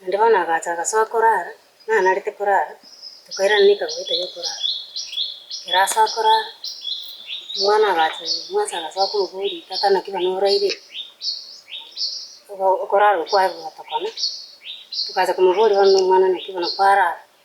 Naende bono agacha agasoa korara, nanarete korara, tokairana nekagoeta yokorara. Ekero asoa korara, omwana agacha omwase agasoa komoboria, tata naki bana oraire ime? Obo- okorara okwo kwaye gogotokona, tokacha komoboria bono na omwana naki bono kwarara.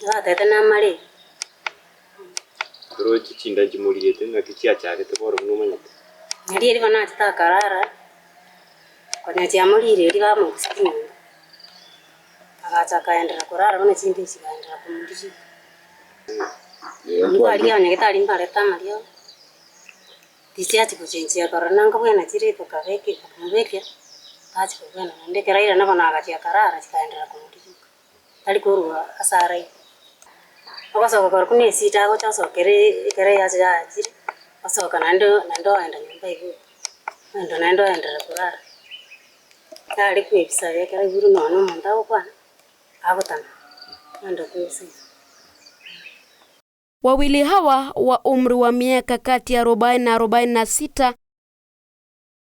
Nabatebete namare. Oroche chinda nchimoriete, ng'aki chiachagete bono buna omanyete? Narieri bono achete akarara, konya chiamorire erio bamochia chinyomba. Agacha akaenderera korara bono chinda echi chikaenderera komoriria. Nigo aria ya nyagetari mbarete amaria, tichiachia gochenchia korora nanga bwena chire itoka beke itoka mobekia, tachia kobwena naende ekero airana bono agachia akarara chikaenderera komoriria. tari korwa ase arai. Ogosoka kore buna esida agocha osokera ekero eyase yaachire, osoka naende naende oenda nyomba igoro, oenda naende oenderera korara. Tari koebisa ekero aigure nonya na omonto agokwana, agotama, oenda koebisa iga. Wawili hawa wa umri wa miaka kati ya arobaini na arobaini na sita.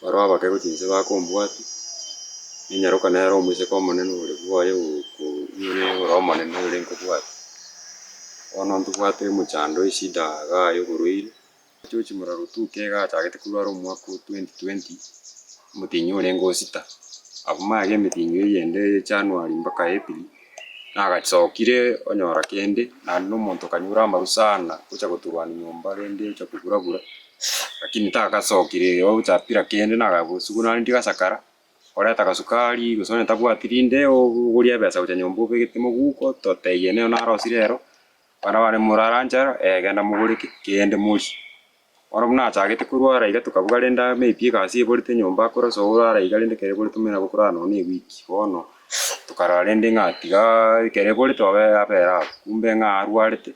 Baroo abakeku chinse bakombwatia, ninyaroka nere omoiseke omonene ore bwoye oyore omonene oyore nkobwate. Bono ntobwate omochando eshida iga aye oborwaire, ochigochia morero otuke iga achagete korwara omwaka o twenty twenty, omotienyi orenge o sita. Abwo mage emetienyi eyende eye January mpaka April, nagasokire onyora kende, naende na omonto okanyora amaru sana, gocha goturania nyomba rende ocha koburabura. Lakini tagasokire ere ogo gocha apira kende, nagakwa esuguno aria ndigasakara, orete agasukari, gose onye tabwati rinde obogoria ebesa gocha nyomba obegete moguko, totebie nere naro osire ero, abana bane morara nchara, eh genda mogore ki? kende morie. Bono buna achagete korwara iga tokabuga rende aa maybe egasi eborete nyomba akore ase orara iga rende ekero eborete omanyete nabo okorara nonye na eweek. Bono tokarora rende ng'a tigaaa ekero eborete obe abera abwo, kumbe ng'a arwarete.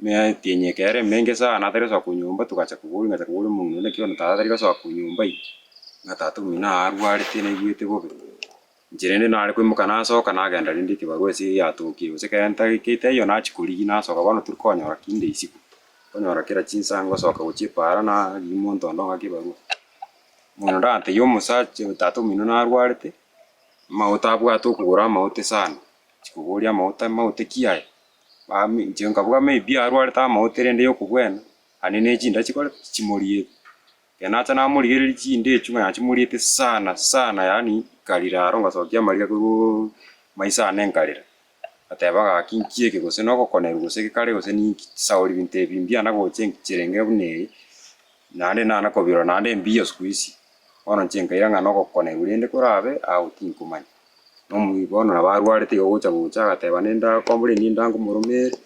Meatie enyeka ere emenge sana atari gosoa konyomba togacha koboria ngacha koboria omong'ina onde naki bono tata tari gosoa konyomba ime, ng'a tata omino aa arwarete naigwete bobe. Inche rende nare koimoka nasoka nagenda rende ekebarua ase eria yatokirie gose ekero ntagekeite ayio nachia korigia nasoka bono tori konyora kende isiko, nkonyora kera chinsa ngosoka gochia epaara narigia omonto onde ong'ake ebarua. Omong'ina onde agantegia omosacha tata omino narwarete, amagote abwate okogoro amagote sana, inche koboria amagote amagote ki aya? Mambia inche nkabua maybe arwarete amaoto erende yokobwena, aye ne chinda chikorete chimoriete. Ekero nacha namorigereria chinda echio ng'a nachimoriete sana sana yaani nkarira aro ngasokia amariga korwa maiso ane nkarira. Ngateba gaki nki eke gose nogokonerwa gose gekare gose ninki chisauri binto ebi mbiana gocha enki chirenge buna eye, naende nana kobirora naende mbiya siku hizi. Bono inche nkaira ng'a nogokonerwa rende korabe, agwo tinkomanya. Nomoika one nabo arwarete iga gocha gocha agateba nende akombore enywe nda ngomoroma ere,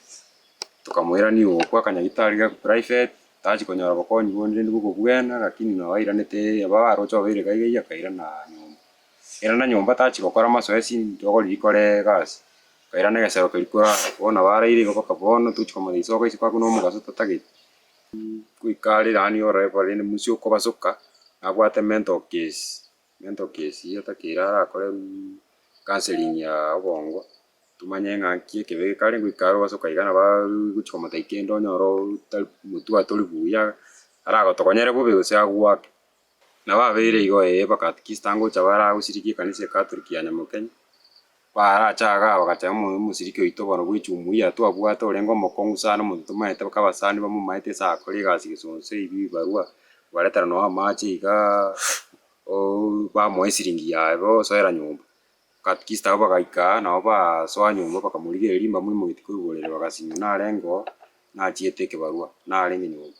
tokamoira nigo ogokwa akanyagitari ga private, tachi konyora obokonyi bonde rende bokobwena lakini nabo airanete aba aroche obeire gaiga iga akairana nyomba. Airana nyomba tachi gokora masoesi ntogori rikore egasi, akairana egesero keria korara. Bono nabo araire igo mpaka bono tochi komanya risoka isiko hakuna omogaso totagete. Goika are yaani orore korende munsi okobasoka, nabwate mental case. Gento kesiyo takeire arakore counseling ya obongo, tomanye ng'a nki ekebe kare goika are ogosoka iga nabo gochia komotebia kende onyore otari motwe tori buya, aragotokonyere bobe gose agwake. Nabo abeire igo ee mpaka at least angocha abare agosirikia ekanisa ekatoliki ya Nyamokenya. Barachagaga bagachaya omoyo omosiriki oito bono bwe echumu eria twabwate, orenge omokong'u sana, omonto tomaete baka abasani bamomaete ase akore egasi gesonso ebi bibarua, obaretera nonye amache igaa ooh bamoa esiringi yaye bo osoera nyomba. Atleast abwo bagaika nabo basoa nyomba bakamorigereria mbamwe moeti korwa oborere bagasinywa narengeo nachiete ekebarua narenge nyomba.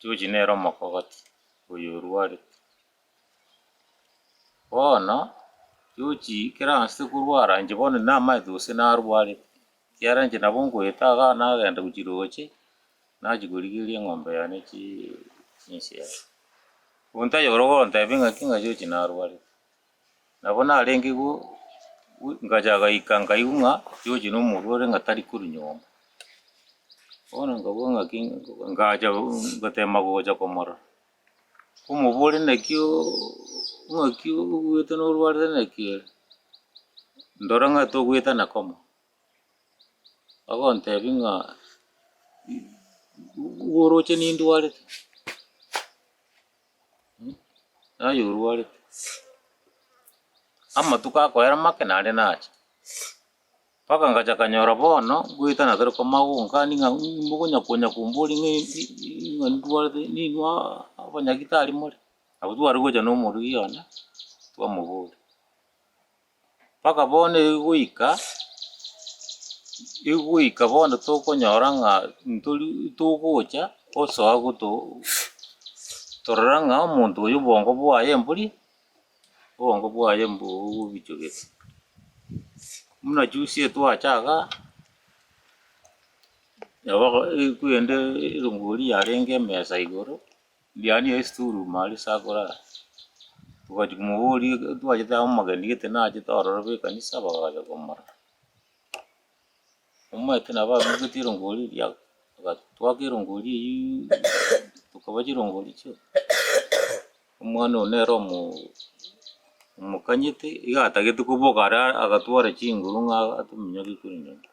George nere omokogoti oyo orwarete. Bono George ekero agasete korwara inche bono namaete gose narwarete, ekiagera inche nabo ngoeta iga nagenda gochia roche, nachia korigereria eng'ombe yane chii chinswe. Omonto tanyora gogontebia ng'aki ng'a George narwarete. Nabo narenge igo ngacha gaika nkaigwa ng'a George nomorwore ng'a tari korwa nyomba. Bono nkabua ng'aki ngacha gotema gocha komorora. Nkomoboria naki ng'aki obuete norwarire naki ere? Ndora ng'a togoetana komo. Agontebia ng'a igo oroche nindwarete. Naye orwarete. Amatuko akoera make naende nache. Mpaka ngacha kanyora bono ngoetana tari komanya gonkania ng'a mh mokonya konya komboria ng'a ng'a ndwarete ninwa abanyagitari more. Nabo tware gocha na omorugi one twamoboria. Mpaka bono egoika, egoika bono tokonyora ng'a ntori togocha osoa goto torora ng'a omonto oyo obwongo bwaye mbori, obwongo bwaye mbo obobichwa gete. Buna juzi etwacha igaa, nabo aba ekwende erongori yarenge emesa igoro. Ndiania ase esitorumu aria ase akore aa. Togachia komoboria ekero twachete aa omogeni gete nachete ororo be ekanisa bagacha komora. Omanyete nabo abegete erongori eria bagatwaka erongori eyiiii tokaba chirongori chio omwana oyo nere omoo omokanyete iga atagete koboka are agatwara chinguru ng'a atominyoke korende inche.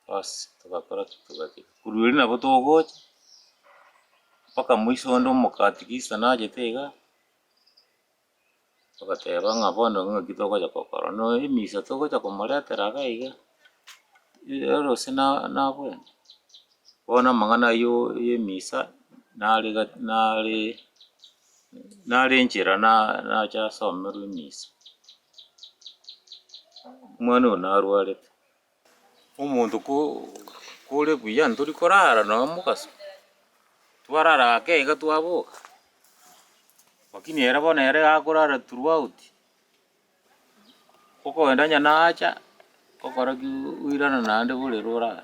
Bosi togakora ki? Togakira. Korwa erio nabo togocha mpaka moiso onde omokatikista nachete iga, togateba ng'a bono iga ng'aki togocha gokora. Buna emisa togocha komoretera iga iga, erose na- nabwene. Bono amang'ana ayio y'emisa nare iga nare nare enchera na- nacha asomerwe emisa. Omwana oyo narwarete. Omonto kore buya ntori korara noe mogaso, twarara ake iga twaboka, lakini ere bono ere iga akorara throughout, okoenda onye nacha, okora ki oirana naende borere orare.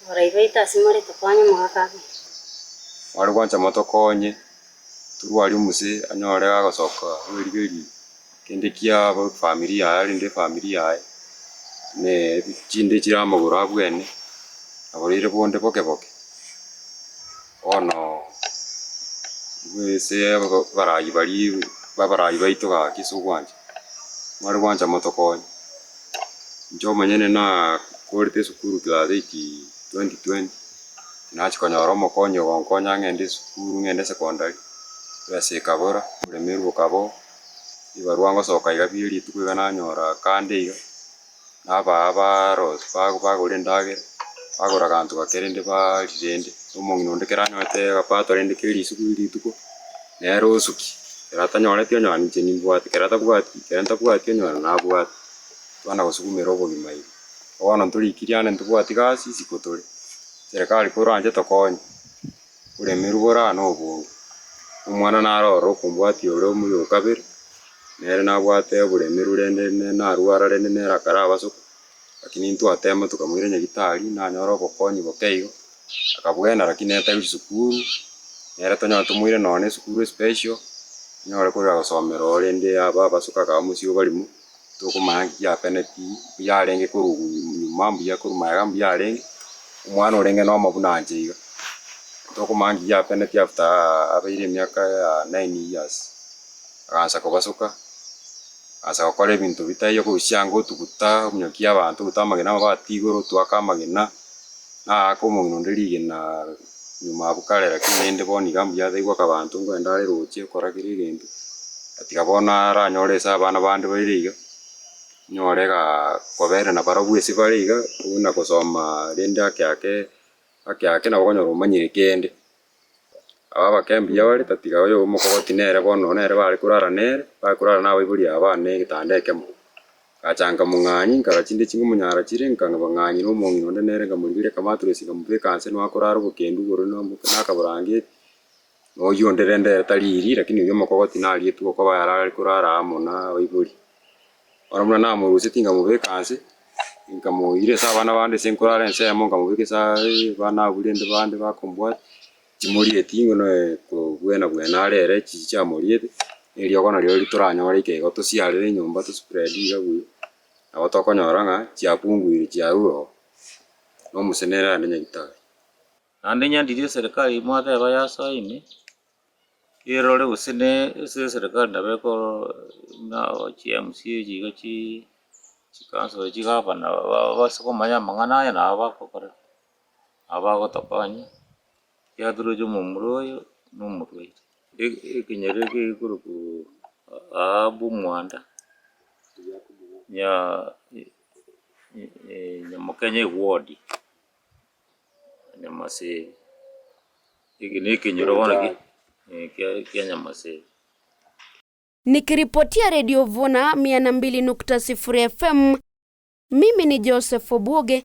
Omorai baito ase more tokonye omogaka abe. Mware gwancha motokonye torwe aria omosee anyore agosoka bweriberi kende kia family yaye arinde family yaye ne chinde chiramogora abwene aboreire bonde boke boke. Bono intwe ense y'abaraai baria b'abaraai baito gaki ase ogwancha, mware gwancha motokonye. Inche omonyene nakorete esukuru class eight twenty twenty, nachia konyora omokonyi ogonkonya ng'ende esukuru ng'ende secondary, ebesa ekabora, oboremeru bokaba oo, ebibarwa ngosoka iga bierituko iga nanyora kando iga. nabaa barosi bago bagore endagera, bagora agaanto gake rende baari rende. Omong'ina onde kera anyorete agapato rende kia rituko ki rituko, nere osuki. Kera atanyoreti onyora ninche nimbwate, kera atabwati kera ntabwati onyora nabwate. Twana gosukumera obogima iga. Bono ntorikiri ande ntobwati gasi isiko tore. Serikali koranche tokonye. Oremerwe bora noboongo. Omwana naro ororo okombwatia ore omuya o kabere, nere nabwate oboremeru rende ne narwara rende nere akara abasoko, rakini ntwatema tokamoira nyagitari, nanyora obokonyi boke igo, akabuena rakini nere tari gochia sukuru, nere tonyora tomoire nonya na esukuru especial, anyore korera gosomera ororo rende abe abasoko akaba mosio obarimo. tokomanya ng'a ki giateneti, mbuya arenge korokwa nyuma, mbuya akorwa magega, mbuya arenge, omwana orenge nomo buna anche iga, tokomanya ng'a ki giateneti after abeire emiaka ya nine years, agansa kobasoka, agansa gokora ebinto bitaiyo korusia anga otuguta, omonyoki y'abanto, otuguta amagena amo batigoro, otoaka amagena, naaka omong'ina onde rigena. Nyuma abwo kare lakini naende bono iga mbuya ata igwaka abanto nkwende are roche okora kera egento. Tiga bono aranyore ase abana bande baire iga, nyore igaa kobera na barabwo ase bare iga, buna gosoma rende ake ake ake ake nabo okonyora omanyire kende. Aba abakenya mbuya bare tatiga oyo omokogoti nere bono nere bare korara nere, bare korara na abaibori aba bane egetanda ekemo. Ngachanka mong'anyi, nkara chinde ching'omonyaara chire, nkang'a bang'anyi nomong'ina onde nere, nkamoribera, nkamaatora esegi, nkamobeka inse nonya korara obokendu igoro nakaborangeti, na oyio onde rende ere tariiri, lakini oyio omokogoti nariete okoba ere are korara amo na abaibori. Bono buna namoruseti nkamobeka inse, nkamoira ase abana bande ase nkorara ensemo, nkamobeka ase abana abwo rende bande bakombwata. Chimorieti inwe noe kobwena bwena are ere chichi chiamoriete, eriogo nario ritoranyore ikego tosiarere enyomba to spread iga buya, nabo tokonyora ng'a chiapunguire chiarure oo, na omosee nere ande nyagetari. Naende nyadire eserikari mwateba yasoe ime, erore gose ne ase eserikari nabo ekoro buna chi mca echi iga chii, chi councilor, chi gavana, ba- ba- base komanya amang'ana aya nabo bagokorera. abagotokonya, yaturoche omomura oyo na omorwaire. E- ekenyoro eke gekorokwa Ahabu omwanda, nya nyamokenya egwodi, nyamasege, eke na ekenyoro bono ki kia kia nyamasege. Nikiripotia Radio Vuna 102.0 FM, mimi ni Joseph Obuge,